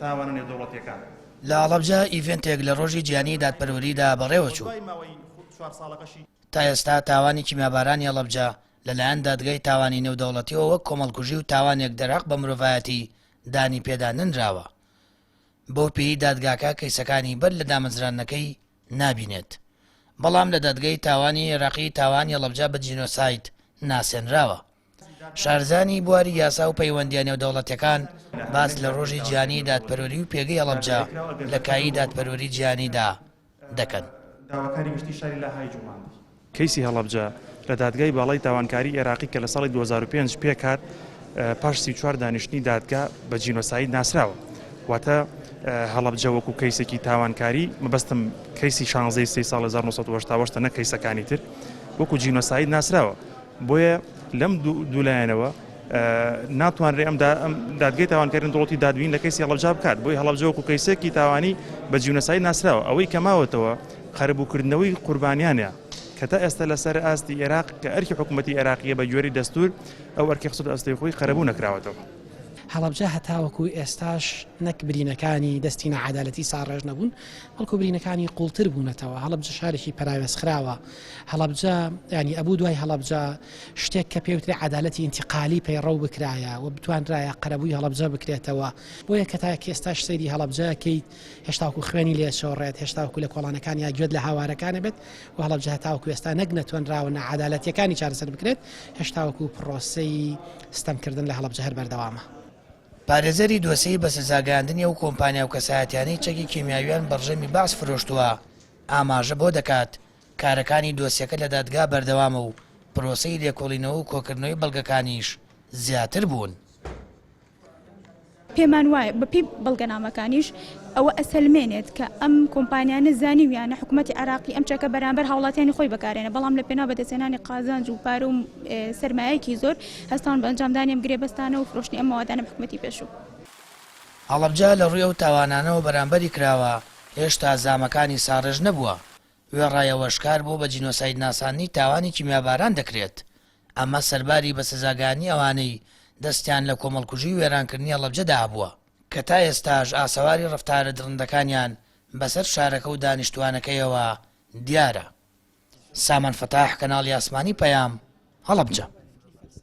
تاوانە نێودەوڵەتییەکان. لە هەڵەبجە ئیڤێنتێک لە ڕۆژی جیهانیی دادپەروەریدا بەڕێوەچوو. تا ئێستا تاوانی کیمیابارانی هەڵەبجە لە لایەن دادگای تاوانی نێودەوڵەتییەوە وەک کۆمەڵکوژی و تاوانێک دەرهەق بە مرۆڤایەتی دانی پێدا نەنراوە. بەو پێیی دادگاکە کەیسەکانی بەر لە دامەزراندنەکەی نابینێت. بەڵام لە دادگای تاوانی عێراقی تاوانی هەڵەبجە بە جینۆساید ناسێنراوە. شارزانی بواری یاسا و پەیوەندییە نێودەوڵەتیەکان باس لە ڕۆژی جیهانی دادپەروەری و پێگەی هەڵەبجە لە کایی دادپەروەری جیهانیدا دەکەن. داواکاری گشتی شاری لاهای جوڵاندی. کەیسی هەڵەبجە لە دادگای باڵای تاوانکاری ئێراقی کە لە ساڵی دوو هەزار و پێنج پێکهات پاش سی و چوار دانیشتنی دادگا بە جینۆساید ناسراوە واتە هەڵەبجە وەکو کەیسێکی تاوانکاری مەبەستم کەیسی شانزەی سی ساڵ 1970 نە کەیسەکانی تر وەکو جینۆساید ناسراوە بۆیە لەم دوو لایەنەوە ناتوانرێ ئەم دادگەی تاوانکردن دڵەتی دادوین لە کەسی هەڵبجا بکات بۆی هەڵبجە وەکو کەیسێکی تاوانی بە جیونەسایی ناسراوە ئەوەی کەماوەتەوە قەرەبووکردنەوەی قوربانیانە کە تا ئێستا لەسەر ئاستی عێراق کە ئەرکی حکوومەتتی عێراقیە بە گوێری دەستور ئەو ئەرکی قسە ئەستی خۆی قەرەبوو نەکراوەتەوە. هەڵبجە هەتاوەکو ئێستاش نەک برینەکانی دەستی نەعادالەتی ساڕێژ نەبوون بەڵکو برینەکانی قوڵتر بوونەتەوە هەڵبجە شارێکی پەراوێزخراوە هەڵەبجە ینی ئەبوو دوای هەڵەبجە شتێک کە پێوترێ عدالەتی ئینتیقالی پەیڕە و بکرایە و بتوانرایە قەرەبووی هەڵەبجە بکرێتەوە بۆیە کە تا کێستاش سەیری هەڵەبجەکەیت هێشتاکو خوێنی لێچۆڕێت هێشتاکو لە کۆڵانەکان یا گوێت لە هاوارەکانە بێت و هەڵەبجە تاوکو ئێستا نەک نەتوانراوە نەعادالەتەکانی چارەسەر بکرێت هێشتاوەکو پرۆسی ستەمکردن لە هەڵەبجە هەر بەردەوامە. پارێزەری دۆسێی بەسزاگەیاندنی ئەو کۆمپانیا و کەسایەتیانەی چەکی کیمیاویان بەڕژێمی بەعس فرۆشتووە، ئاماژە بەوە دەکات، کارەکانی دۆسیەکە لە دادگا بەردەوامە و پرۆسەی لێکۆڵینەوە و کۆکردنەوەی بەڵگەکانیش زیاتر بوون. پێمانوایە بەپێی بەڵگەنامەکانیش ئەوە ئەسەلمێنێت کە ئەم کۆمپانیانە زانیویانە حکومەتی عێراقی ئەم چەکە بەرامبەر هاوڵاتیانی خۆی بەکارێنە بەڵام لە پێناو بەدەستێنانی قازانج و پارە و سەرمایەکی زۆر هەستاون بە ئەنجامدانی ئەم گرێبەستانە و فرۆشتنی ئەم موادانە بە حکومەتی پێشوو. هەڵەبجە لە ڕووی ئەو تاوانانەوە بەرامبەری کراوە هێشتا زامەکانی ساڕێژ نەبووە، وێڕایەوە شکار بۆ بە جینۆساید ناساندنی تاوانی کیمیاباران دەکرێت، ئەمە سەرباری بە سزاگانی ئەوانەی دەستیان لە کۆمەڵکوژی و وێرانکردنی هەڵەبجەدا هەبووە، کە تا ئێستاش ئاسەواری ڕەفتارە دڕندەکانیان بەسەر شارەکە و دانیشتووانەکەیەوە دیارە. سامان فەتاح، کەناڵی ئاسمانی پەیام، هەڵەبجە.